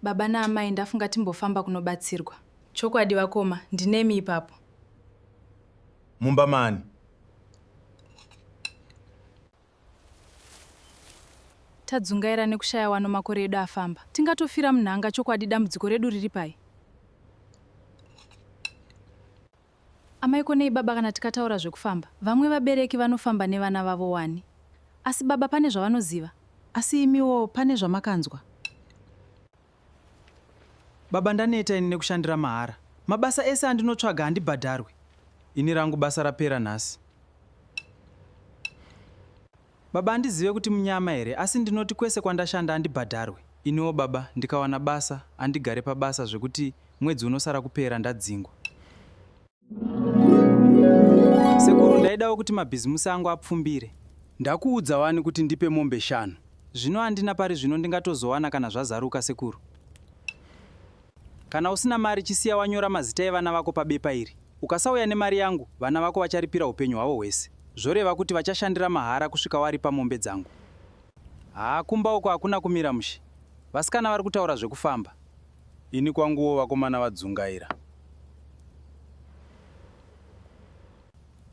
Baba naamai ndafunga timbofamba kunobatsirwa. Chokwadi vakoma, ndinemi ipapo. Mumba maani? Tadzungaira nekushaya wano makore edu afamba. Tingatofira munhanga chokwadi dambudziko redu riri pai? Amai ko nei baba kana tikataura zvekufamba vamwe vabereki vanofamba nevana vavo wani asi baba pane zvavanoziva asi imiwo pane zvamakanzwa Baba ndaneta ini nekushandira mahara. Mabasa ese andinotsvaga handibhadharwi. Ini rangu basa rapera nhasi. Baba andizive kuti munyama here asi ndinoti kwese kwandashanda andibhadharwe iniwo baba ndikawana basa andigare pabasa zvekuti mwedzi unosara kupera ndadzingwa. Sekuru ndaidawo kuti mabhizimusi angu apfumbire. Ndakuudza wani kuti ndipe mombe shanu. Zvino andina pari zvino ndingatozowana kana zvazaruka sekuru. Kana usina mari chisiya wanyora mazita evana vako pabepa iri. Ukasauya nemari yangu, vana vako vacharipira upenyu hwavo hwese. Zvoreva kuti vachashandira mahara kusvika waripa mombe dzangu. Haa kumba uko hakuna kumira mushe. Vasikana vari kutaura zvekufamba. Ini kwanguwo vakomana vadzungaira.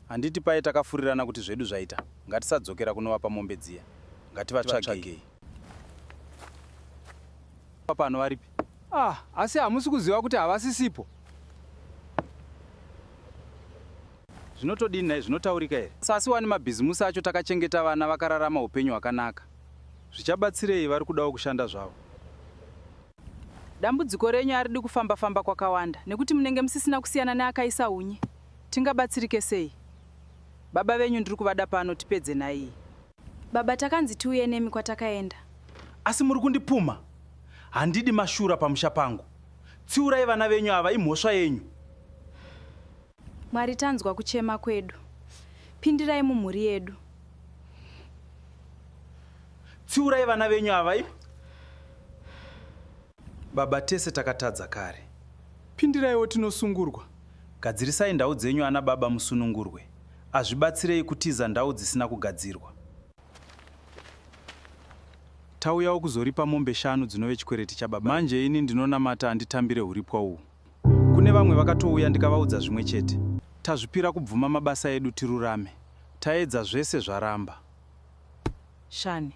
Handiti paye takafurirana kuti zvedu zvaita ngatisadzokera kunovapa mombe dziya. Ngativatsvagei. Pano varipi? Ah, asi hamusi kuziva kuti havasisipo. Zvinotodini naye zvinotaurika here? Sasi wani mabhizimusi acho takachengeta vana vakararama upenyu hwakanaka. Zvichabatsirei vari kudawo kushanda zvavo. Dambudziko renyu aridi kufamba famba kwakawanda nekuti munenge musisina kusiyana neakaisa unye. Tingabatsirike sei? Baba venyu ndiri kuvada pano tipedze nhaiyi. Baba takanzi tiuye nemi kwatakaenda. Asi muri kundipumha? Handidi mashura pamusha pangu. Tsiurai vana venyu ava imhosva yenyu. Mwari tanzwa kuchema kwedu. Pindirai mumhuri yedu. Tsiurai vana venyu ava. Baba tese takatadza kare. Pindiraiwo tinosungurwa. Gadzirisai ndau dzenyu ana baba musunungurwe. Azvibatsirei kutiza ndau dzisina kugadzirwa. Tauyawo kuzoripa mombe shanu dzinove chikwereti chababa. Manje ini ndinonamata anditambire huripwa uhu. Kune vamwe vakatouya ndikavaudza zvimwe chete. Tazvipira kubvuma mabasa edu tirurame. Taedza zvese zvaramba. Shani.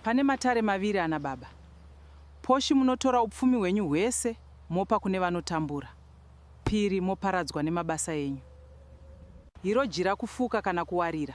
Pane matare maviri ana baba Poshi munotora upfumi hwenyu hwese mopa kune vanotambura. Phiri moparadzwa nemabasa enyu. Hiro jira kufuka kana kuwarira.